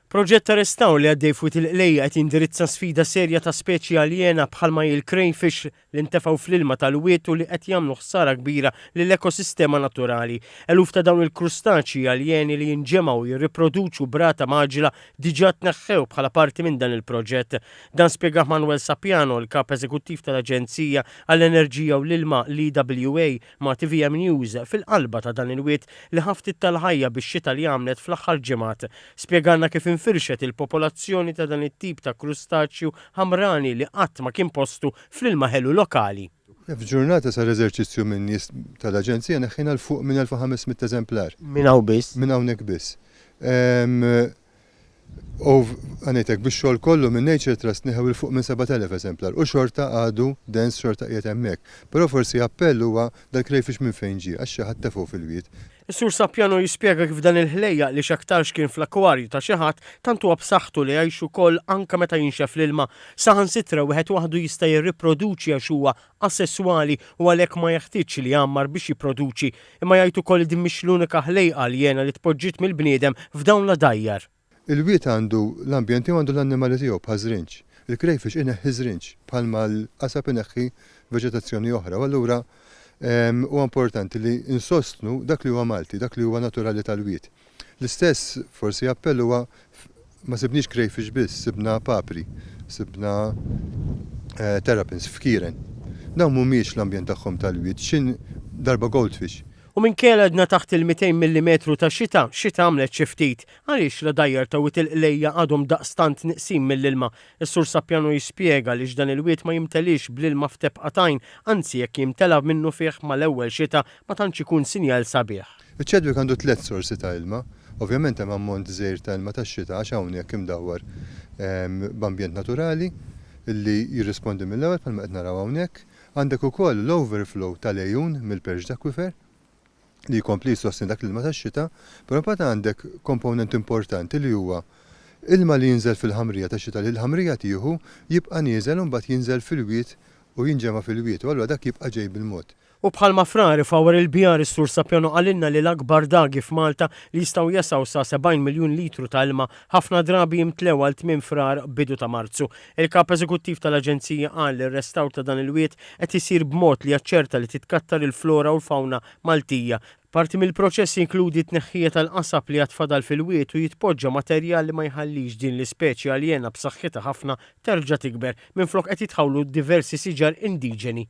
Proġett ta' restawr li għaddej f'Wied il-Qlejja qed jindirizza sfida serja ta' speċi aljena bħalma hi l-crayfish li ntefgħu fl-ilma tal-wied u li qed jagħmlu ħsara kbira lill-ekosistema naturali. Eluf ta' dawn il-krustaċji aljeni li jinġemgħu u jirriproduċu b'rata mgħaġġla diġà tneħħew bħala parti minn dan il-proġett. Dan spjegah Manuel Sapiano, il-Kap Eżekuttiv tal-Aġenzija għall-Enerġija u l-Ilma, l-EWA, ma' tvm News fil-qalba ta' dan il-wied li ħa ftit tal-ħajja bix-xita li għamlet fl-aħħar ġimgħat. Spjegalna kif infirxet il-popolazzjoni ta' dan it-tip ta' krustaċju ħamrani li qatt ma kien postu fl-ilma ħelu lokali. F'ġurnata sar eżerċizzju minn nies tal-Aġenzija neħħiena 'l fuq minn 1,500 eżemplar. Minn hawn biss? Minn hawnhekk biss. Ove, ngħidlek, bix-xogħol kollu minn Nature Trust neħew 'il fuq minn 7,000 eżemplar u xorta għadu dens xorta qiegħed hemmhekk. Però forsi appell huwa dal-krejfix minn fejn ġie għax xi ħadd tefgħu fil-wied. Is-Sur Sappiano jispjega kif dan il-ħlejjaq li x'aktarx kien fl-akkwarju ta' xi ħadd tant huwa b'saħħtu li jgħix ukoll anke meta jinxef l-ilma. Saħansitra wieħed waħdu jista' jirriproduċi għax huwa asesswali u għalhekk ma jeħtieġx li jgħammar biex jipproduċi, imma jgħid ukoll li din mhix l-unika ħlejqa aljena li tpoġġiet mill-bniedem f'dawn l-għadajjar. Il-wied għandu l-ambjent tiegħu għandu l-annimali tiegħu bħaż-żrinġ. Il-krejfix ineħħi ż-żrinġ bħalma l-qasab ineħħi veġetazzjoni oħra u allura huwa importanti li nsostnu dak li huwa Malti, dak li huwa naturali tal-wied. L-istess, forsi, appell huwa ma sibniex crayfish biss, sibna papri, sibna terrapins f'kieren. Dawn mhumiex l-ambjent tagħhom tal-wied, x'in darba goldfish. U minkejja li għadna taħt il-mitejn millimetru ta' xita, xita għamlet xi ftit. Għaliex l-għodajjar ta' Wied il-Qlejja għadhom daqstant nieqsin mill-ilma? Is-Sur Sapjano jispjega għaliex dan il-wied ma jimteliex bl-ilma f'tebqa t'għajn, anzi jekk jimtela minnufih mal-ewwel xita ma tantx ikun sinjal sabiħ. Iċ-Chadwick għandu tliet sorsi ta' ilma. Ovvjament hemm ammont żgħir ta' ilma tax-xita għax hawnhekk imdawwar b'ambjent naturali li jirrispondi mill-ewwel bħalma qed naraw hawnhekk. Għandek ukoll l-overflow tal-għejun mill-perched aquifer li jkompli jsostni dak l-ilma tax-xita. Però mbagħad għandek komponent importanti li huwa ilma li jinżel fil-ħamrija tax-xita li l-ħamrija tieħu, jibqa' nieżel u mbagħad jinżel fil-wied u jinġema' fil-wied u allura dak jibqa' ġej bil-mod. U bħalma Frari f'Our il-Bihar is-Sur Sapiano qalilna li l-akbar dagi f'Malta li jistgħu jesgħu sa 70 miljun litru ta' ilma ħafna drabi jimtlew għal tmiem Frar, bidu ta' Marzu. Il-Kap Eżekuttiv tal-Aġenzija qal li r-restawr ta' dan il-wied qed isir b'mod li jaċċerta li titkattar il-flora u l-fawna Maltija. Parti mill-proċess jinkludi t-tneħħija tal-qasab li għad fadal fil-wied u jitpoġġa materjal li ma jħallix din l-ispeċi aljena b'saħħitha ħafna terġa' tikber, minflok qed jitħawlu diversi siġar indiġeni.